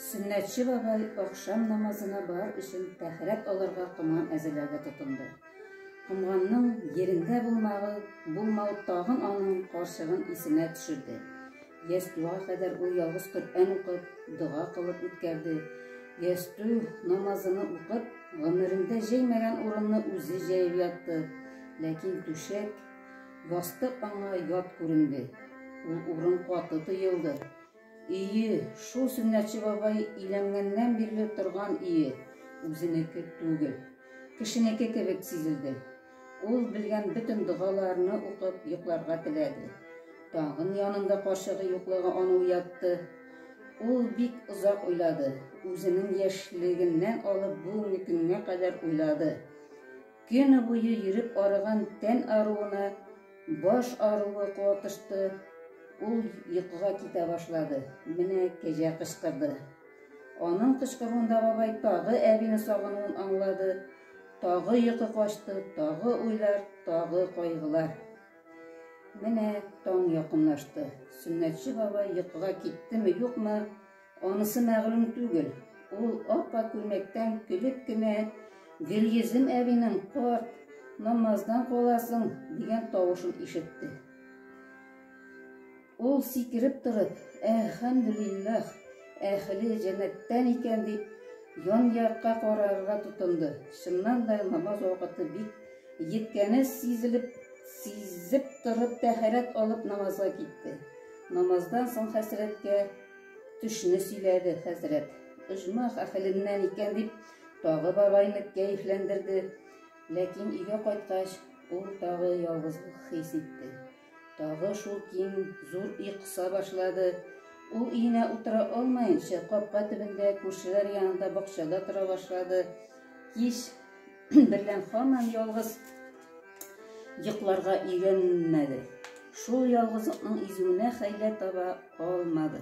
Сөннәтче бабай ахшам намазына бар өчен тәхәрәт алырга коман әзерләргә тотынды. Комганның ерендә булмавы, булмау тагын аның карчыгын исенә төшерде. Ястуга кадәр ул ялгыз Коръән укып, дога кылып үткәрде. Ясту намазыны укып, гомерендә җәймәгән урынны үзе җәеп ятты. Ләкин түшәк Ястык аңа ят күренде. Ул урын каты тоелды. Ие, шул Сөннәтче бабай иләнгәннән бирле торган ие, үзенеке түгел. Кешенеке кебек сизелде. Ул белгән бөтен догаларны укып йокларга теләде. Тагын янында карчыгы юклыгы аны уятты. Ул бик озак уйлады. Үзенең яшьлегеннән алып бүгенге көнгә кадәр уйлады. Көне буе йөреп арыган тән аруына баш аруы катышты, ул йокыга китә башлады. Менә кәҗә кычкырды. Аның кычкыруында бабай тагы әбине сагынуын аңлады. Тагы йокы качты, тагы уйлар, тагы кайгылар. Менә таң якынлашты. Сөннәтче бабай йокыга киттеме, юкмы, Анысы мәгълүм түгел. Ул аппа күлмәктән көлеп кенә Гөлйөзем әбинең карт, намаздан каласың дигән тавышын ишетте. Ул сикереп торып, әлхәмдүлилләх, әхле җәннәттән икән дип, ян якка карарга тотынды. Чыннан да намаз вакыты бик җиткәне сизелеп, сизеп торып тәһарәт алып намазга китте. Намаздан соң хәсрәткә Төшне сөйләде хәзрәт. Оҗмах әхеленнән икән дип, тагы бабайны кәефләндерде. Ләкин өйгә кайткач, ул тагы ялгызлык хис итте. Тагы шул киң, зур өй кыса башлады. Ул өенә утыра алмаенча, капка төбендә, күршеләр янында, бакчада тора башлады. Кич берлән хаман ялгыз йокларга өйрәнмәде. Шул ялгызлыкның изүенә хәйлә таба алмады.